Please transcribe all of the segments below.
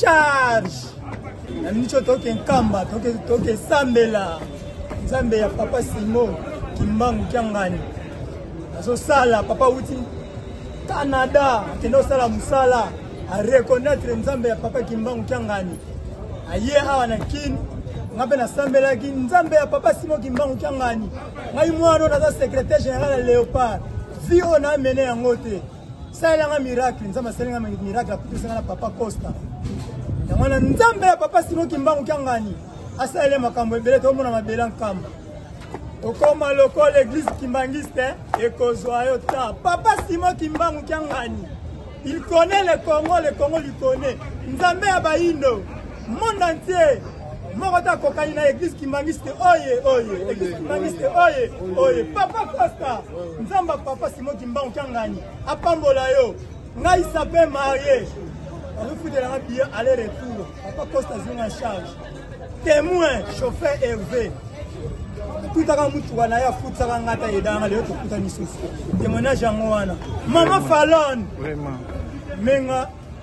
charge na micho toke nkamba toke toke sambela nzambe ya papa simo kimbangu kiangani azosala papa uti canada akende osala mosala areconnaitre nzambe ya papa kimbangu kiangani aye awa na kini nga mpe nasambelaki nzambe ya papa simo kimbangu kiangani ngai mwana oyo naza secrétaire général ya léopard vi oyo naamene yango te salela nga miracle nzambe asali nga miracle akutisa nga na papa costa yango wana nzambe ya papa simo kimbangu kiangani asalele makambo ebele tomona mabele nkamba okoma lokola eglise kimbangiste ekozwa yo ta papa simo kimbangu kiangani il connaît le congo le congo li connaît nzambe ya bayindo Monde entier moko te akokani na eglise kimbanguiste oye oye eglise kimbanguiste oye oye papa costa nzamba papa simo kimbangu kiangani apambola yo ngai sape marie azofutelanga biye aller retour papa costa azwi na charge témoin chauffeur herve tutaka mutuka na ye afutisaka ngai ata edanga lelo tokuta lisusu témoignage yango wana mama falone menga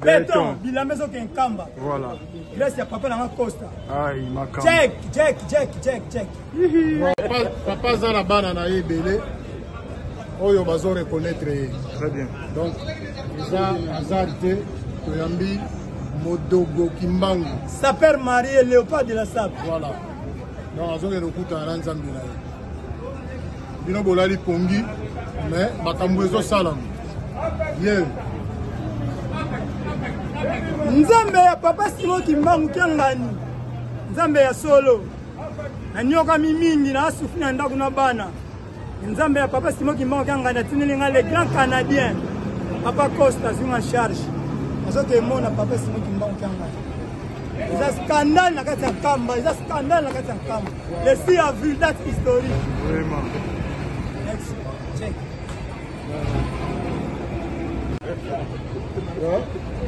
Beton, bilamba ezoke nkamba. Voilà. Grace ya papa nanga Costa. Ai, makamba. Check, check, check, check, check. Papa, papa aza na bana na ye ebele oyo bazo reconnaître ye. Très bien. Donc, eza aza te toyambi Modogo Kimbangu. Sapeur marié, léopard de la sape. Voilà. Donc, azokende okutana na nzambe na ye. bino bolali pongi mais makambo ezosalama ye yeah. nzambe ya papa simo kimbangu kiangani nzambe ya solo naniokami mingi naasufi na ndako na bana nzambe ya papa simo kimbangu kiangani atindeli ngai le grand canadien papa costa azwi na charge azokemona papa simo kimbangu kiangani eza scandale na kati ya kamba eza scandale na kati ya kamba le si ya vue date historique vraiment next check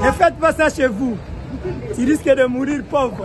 ne faites pas ça chez vous tu risques de mourir pauvre